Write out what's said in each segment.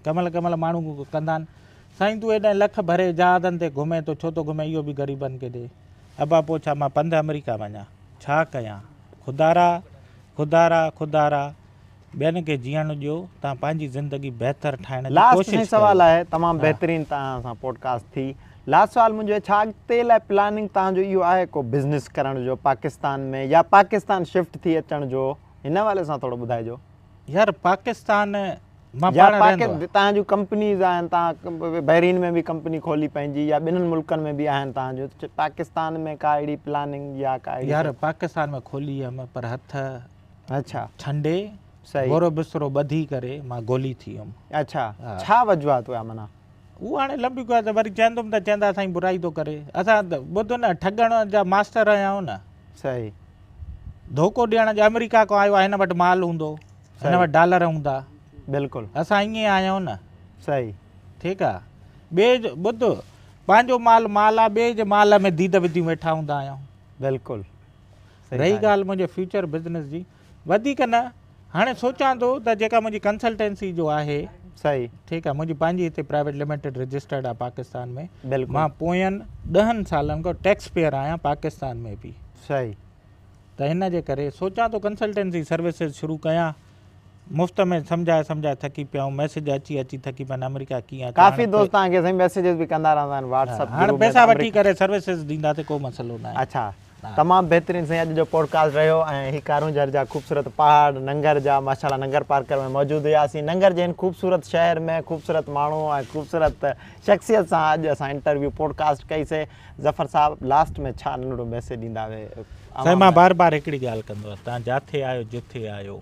ڪمل ڪمل ماڻهو ڪندا آهن. سائين تون ايڏانهن لک ڀري جهازن تي گهمين ٿو ڇو ٿو گهمين اهو به غريبن کي ڏي. ابا پوء ڇا مان پنڌ آمريڪا وڃان ڇا ڪيان خدارا خدارا خدارا ٻين کي جيئڻ ڏيو تان پنهنجي زندگي بهتر ٺاهڻ جي لاست سائين ڪوشش سوال ڪيو. آهي تمام بهترين توهان سان پوڊڪاسٽ ٿي لاست سوال منهنجو ڇا اڳتي لاء پلاننگ توهان جو اهو آهي ڪو بزنس ڪرڻ جو پاڪستان ۾ يا پاڪستان شفٽ ٿي اچڻ جو هن حوالي سان ٿورو ٻڌائجو. يار پاڪستان مان پاڻ رهندو آهي. تان جون ڪمپنيز آهن تان بحرين ۾ به ڪمپني کولي پنهنجي يا ٻنهن ملڪن ۾ به آهن تان جون پاڪستان ۾ ڪا اهڙي پلاننگ يا ڪا اهڙي يار پاڪستان ۾ کولي هيم پر هٿ اڇا ڇنڊي صحيح گورو بسترو ٻڌي ڪري مان گولي ٿي هيم اڇا ڇا وجوهات هيا منا هو هاڻي لمبي گوئا ته وري چيندم ته چيندا سائين برائي ٿو ڪري اسان ٻڌ نه ٺڳڻ جا ماستر آهيون نه صحيح ڌوڪو ڏيڻ جو آمريڪا کان آيو آ هن وٽ مال هوندو هن وٽ ڊالر هوندا بلڪل اسان ائين آهيون نه صحيح ٺيڪ آ ٻئي جو ٻڌ پنهنجو مال مال آ ٻئي جي مال ۾ ديد وڌيون ويٺا هوندا آهيون بلڪل رهي ڳالهه منهنجي فيوچر بزنس جي وڌيڪ نه هاڻي سوچان ٿو ته جيڪا منهنجي ڪنسلٽنسي جو آهي صحيح ٺيڪ آهي منهنجي پنهنجي هتي پرائيويٽ لميٽيڊ رجسٽرڊ آهي پاڪستان ۾ مان پوين ڏهن سالن کان ٽيڪس پيئر آهيان پاڪستان ۾ به صحيح ته هن جي ڪري سوچان ٿو ڪنسلٽنسي سروسز شروع ڪيان مفت ۾ سمجھائي سمجھائي ٿڪي پيا آهيون ميسج اچي اچي ٿڪي پيا آمريڪا ڪيئن آهي ڪافي دوست تان کي سائين ميسجز به ڪندا رهندا آهن واٽس اپ گروپ ۾ پيسا وٺي ڪري سروسز ڏيندا ته ڪو مسئلو نه آهي اچھا تمام بهترين سائين اڄ جو پوڊڪاسٽ رهيو ۽ هي ڪارونجهر جا خوبصورت پهاڙ ننگر جا ماشاءالله ننگر پارڪر ۾ موجود هياسين ننگر جي هن خوبصورت شهر ۾ خوبصورت ماڻهو ۽ خوبصورت شخصيت سان اڄ اسان انٽرويو پوڊڪاسٽ ڪئي سي ظفر صاحب لاسٽ ۾ ڇا ننڍڙو ميسيج ڏيندا اهي سائين مان بار بار هڪڙي ڳالهه ڪندو آهيان تان جاٿي آيو جٿي آيو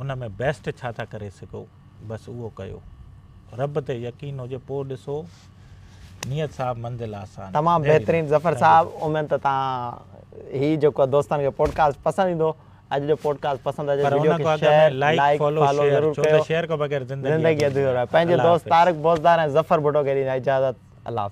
ان ۾ بيسٽ ڇا ٿا ڪري سگهو بس اهو ڪيو. رب تي يقين هجي پوء ڏسو نيت صاحب منزل آسان. تمام بهترين ظفر صاحب اميد ته تهان هي جيڪو دوستن کي پوڊڪاسٽ پسند ايندو اڄ جو پوڊڪاسٽ پسند اچي ته وڊيو کي شيئر لائيڪ فالو ضرور ڪيو زندگي ادھوري رهي پنهنجي دوست طارق بوزدار ۽ ظفر ڀٽو کي ڏيندان اجازت الله حافظ.